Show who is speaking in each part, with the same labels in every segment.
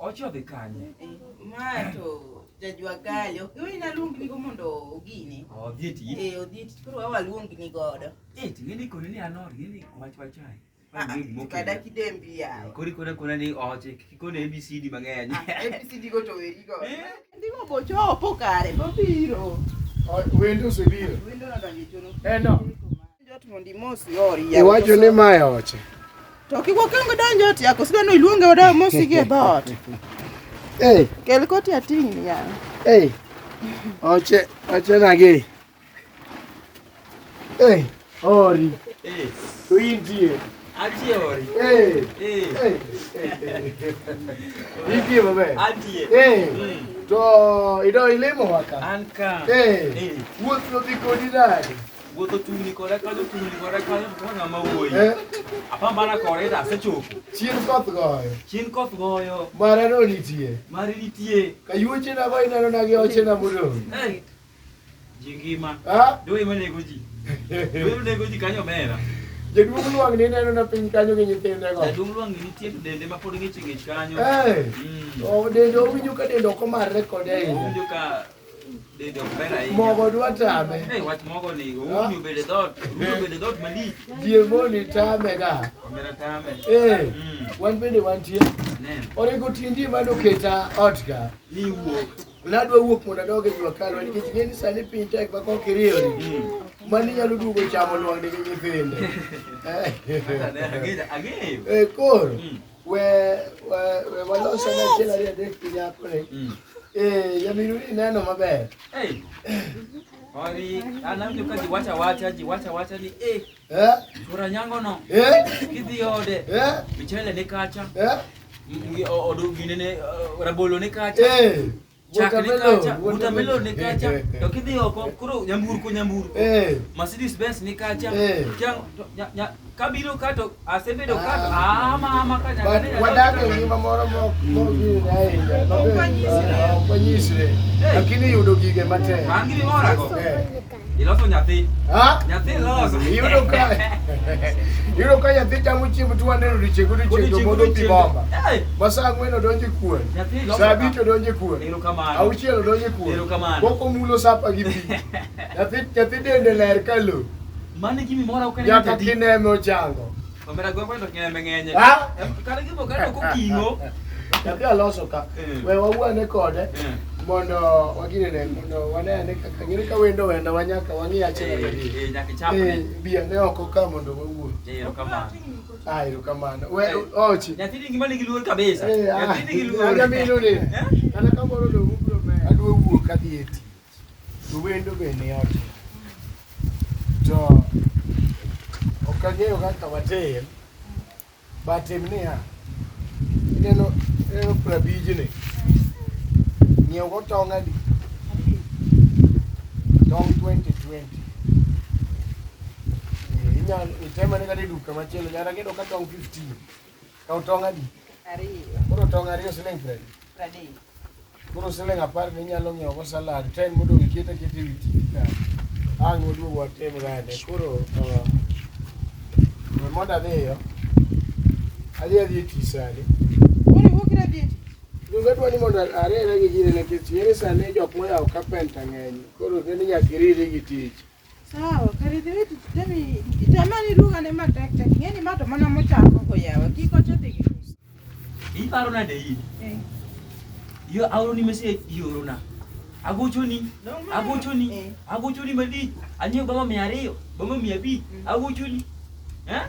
Speaker 1: Ochodhi kanye? Ma to jajwa gali. Ok iwe naluongi nigo mondo ogini. Odhi e tich. Eh, odhi e tich. Koro wawa luongi ni godo. Eh, to ng'eni koni ni anor, ng'eni wach wachai. Ah, ah, kada kidembi yawo. Eh, kori kona kona ni oche, kikone ABCD mang'eny. Ah, ABCD go to weri go. Eh? Ndimo bochopo kare, bobiro. Wendo osebiro. Wendo nadonjo chono. Eh, no. Iwacho ni ma e oche. To kik wakwong donjo ot yako, sidwa ni iluonge odawa mosi gi e dhoot. Hey. Kel koti ating' ni yawa. Hey. Oche, oche nage. Hey, ori. Hey. To intie. Antie ori. Hey. Hey. Hey. Intie maber. Antie. Hey. Mm. To ido ilimo waka. Anka. Hey. Hey. Wuoth nodhi kodi nade? Wuotho tungni kore kanyo tungni kore kanyo to ng'ama wuoyi. Eh. Apambana kore to asechopo. Chien koth goyo. Chien koth goyo. Mara no nitie. Mari nitie. Kayuoche na go ineno na gi oche na modong. Eh. Ji ngima. Ah. Doi manego ji. Doi manego ji kanyo mera. Jaduong' Lwang' ni neno na piny kanyo gi nyithinde go. Jaduong' Lwang' ni nitie to dende ma pod ng'ich ng'ich kanyo. Eh. Mm. Oh, dende owinjo ka dende ok omarre kode ahinya. Owinjo ka Mogo dwa tame. Eh, wach mogo ni oumi obede dot, oumi obede dot malich. Jiemoni tame ga. Omera tame. Eh, mm. wan bende wantie. Onego tindi mano keta ot ga. Ni wuok. Nadwa wuok mondo adog e jua kalwa nikech ng'e ni sani piny tek ma kok iriyori. Mm. Mani nyalo duogo chamo lwang'ni gi nyithinde. Eh, koro. Mm. We we we waloso na chiel ariyo adek piny apre. Mm. Eh, jamiru ineno maber. Hey. Ori, anamjo ka jiwacha wacha, jiwacha wacha ni eh. Eh? Chura nyango no. Eh? Kidhi ode. Eh? Michele ne kacha. Eh? Odu gine ne eh, rabolo ne kacha. Eh. Watermelon ni kacha to kidhi oko koro nyamburko nyamburko eh. Mercedes Benz ni kacha eh. kabiro ka to asebedo ka ah. ama ama ka wadak e ngima moro mokgine ahinya ok wanyisre eh. lakini yudo gige matek Iloso nyathi. Ha? Nyathi loso. Yudo ka. Yudo ka nyathi chamo chiemo tu wane rudi chego rudi chego modo pi bomba. Basa ngwen odonje kuon. Sabi to donje kuon. Ero kamano. Au chielo donje kuon. Ero kamano. Boko mulo sapa gi pi. Nyathi nyathi dende ler kalu. Mane gimi mora ukene. Yaka kineme ochango. Omera gwengwa to nyembe ng'enye. Ah! Kare gibo kare ok oting'o. Nyathi aloso ka. Eh. We wawuane kode Eh. mondo waginene mondo wanene kaka ng'ere ka wendo wenda wanyaka wang'i achiel Eh, ariyo. eh, nyaka ichap Eh, ni. biya ne oko ka mondo wawuo. Eh, erokamano. Ah, erokamano. We Eh. ochi. Nyathi ni ngima nigi luor kabisa. Eh, ah, Nyathi nigi luor. anyamino ni. Eh? Kata kamoro dong' ubro meya. Adwa wuok adhi e tich. to wendo be ne otin. To ok ang'eyo kaka watim, but tim niya, ineno ineno prabijni, ng'iew go tong' adi? Tong' twenty twenty. Eh, Inyalo itemane kata e duka machielo, nyaka ineno ka tong' fifteen. Kaw tong' adi? Ariyo. Koro tong' ariyo siling' piero adi? Piero adek. Koro siling' apar be inyalo ng'iewo go salad, ten modong' iket aketa ewi TV ka. Ang' waduog watim gande. Koro uh, we mondo adhiyo. Adhi adhi e tich sani. Koro iwuok ira dhi e tich. Donge adwa ni mondo ariere gi jiri nikech ere sani jok moyawo carpenter ng'eny. Koro kendo nyaka iriri gi tich. Sawa, karidhi wetu temi itamani lugha ne matek tek. Ngeni mato mana mochako ko yawa. Kiko chote ki. Hii paro na dei. Eh. Yo auro ni mese yoro na. Agochoni, agochoni, eh. agochoni mali. Anyo bama mia ariyo, bama mia abich, mm. agochoni. Eh?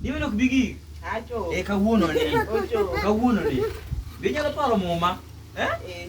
Speaker 1: Niwe nok bigi. Acho. Eh kawuono ni. Ocho. Kawuono ni. Binyalo paro muma. Eh? Eh.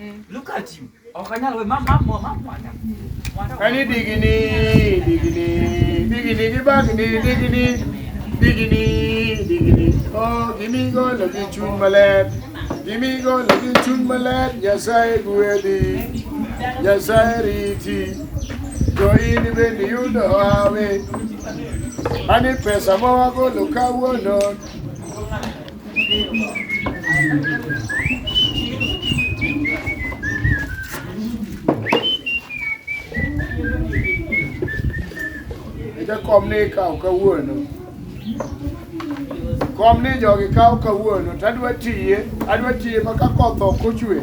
Speaker 1: Mm. Look at you. Okanyal we mam mam mam mwanda. Kani digini digini digini gibagni digini digini digini. Oh, gimi go lagi chun malet. Gimi go lagi chun malet. Nyasaye guedi. Nyasaye riti. Jo in bende yudo hawe. Ani pesa ma wagolo kawuono kom ni ikawo kawuono kom ni jogi kawo kawuono to adwa tiye adwa tiye ma ka koth ok ochwe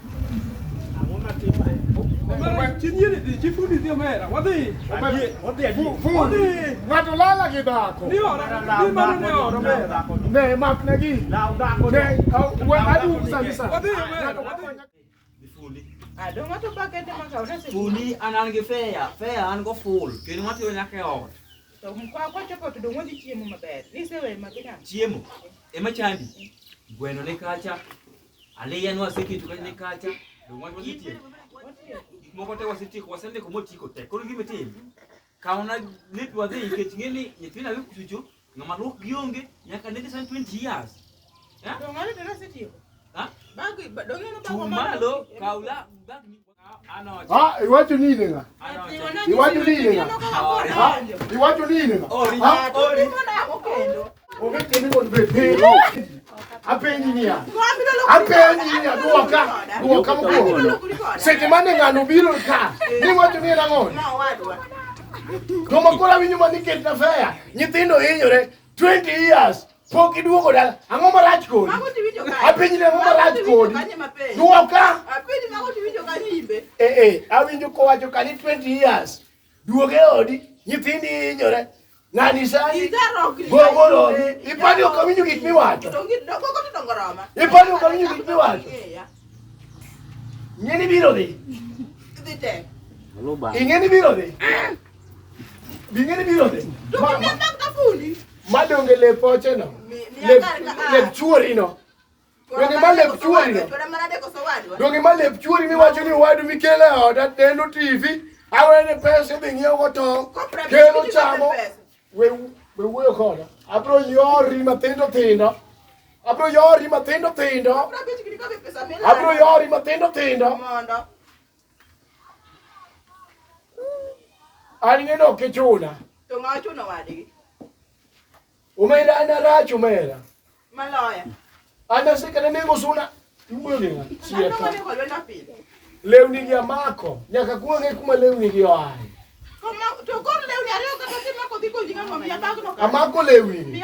Speaker 1: Ng'ato lala gi dhako. Ne makna gi. Ne adum sani sani. Fuli an an gi feya, feya an go ful, kendo matiyo nyaka e ot. To kwa kwa choko to dongo di chiemo maber. Ni se we makina. Chiemo ema chandi. Gweno ni kacha, Aliyan wasiki to kane kacha do wan wasitie. Gik moko te wasitie ko wasende ko motiko te. Koro gima tim. Kauna ne dwa dhi nikech ng'e ni nyithindo awe kuchucho ng'ama luok gi onge nyaka ne san 20 years. Eh? Dong'ane dara setieko. Ha? Bagi dong'ane bago Chuma lo kaula bag ni Ah, iwacho nini nga? Iwacho nini nga? Ah, iwacho nini nga? Ah, ongekeni kod bepero. Apenji niya. Apenji niya duoka. Duoka mokwongo. Seche mane ng'ano biro ka, niwacho ni en ang'o? Joma koro awinjo ma nikech na feya, nyithindo hinyore 20 years Pok iduogo dala. Ang'o marach kodi? Mago tiwinjo kanye? Apenji ni ang'o marach kodi? Kanye mapenjo? Duoka. Apenji mago tiwinjo kanye imbe? Eh eh, awinjo kowacho kani 20 years. Duoge odi, nyithindi hinyore. Ng'ani sani gogolo ipani ok awinjo gik miwacho. Ipani ok awinjo gik miwacho. Ng'eni biro dhi. Dhi te. Ing'eni biro dhi. Bing'eni biro dhi. Dukni atak tafundi. Madonge lep ocheno. Lep lep chuori no. Donge ma lep chuori no. Donge ma lep chuori miwacho ni wadu mikele oda neno TV. Awene pesa dhi ng'iewo go tong'. Kelo chamo. We we wuoyo koda. Abro yori matindo tindo. Abro yori matindo tindo. Abro yori matindo tindo. Alinge no kichuna. To ma chuna wadi. Umera ana rachu mera. Maloya. Ana sika ne mengo suna. Iwuyo ni ng'a. Siya ka. Lewni gi amako. Nyaka kuonge kuma lewni gi oaye. Amako lewni.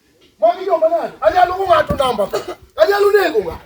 Speaker 1: Magi joma nade? Anyalo ng'ato namba. Anyalo nego ng'ato.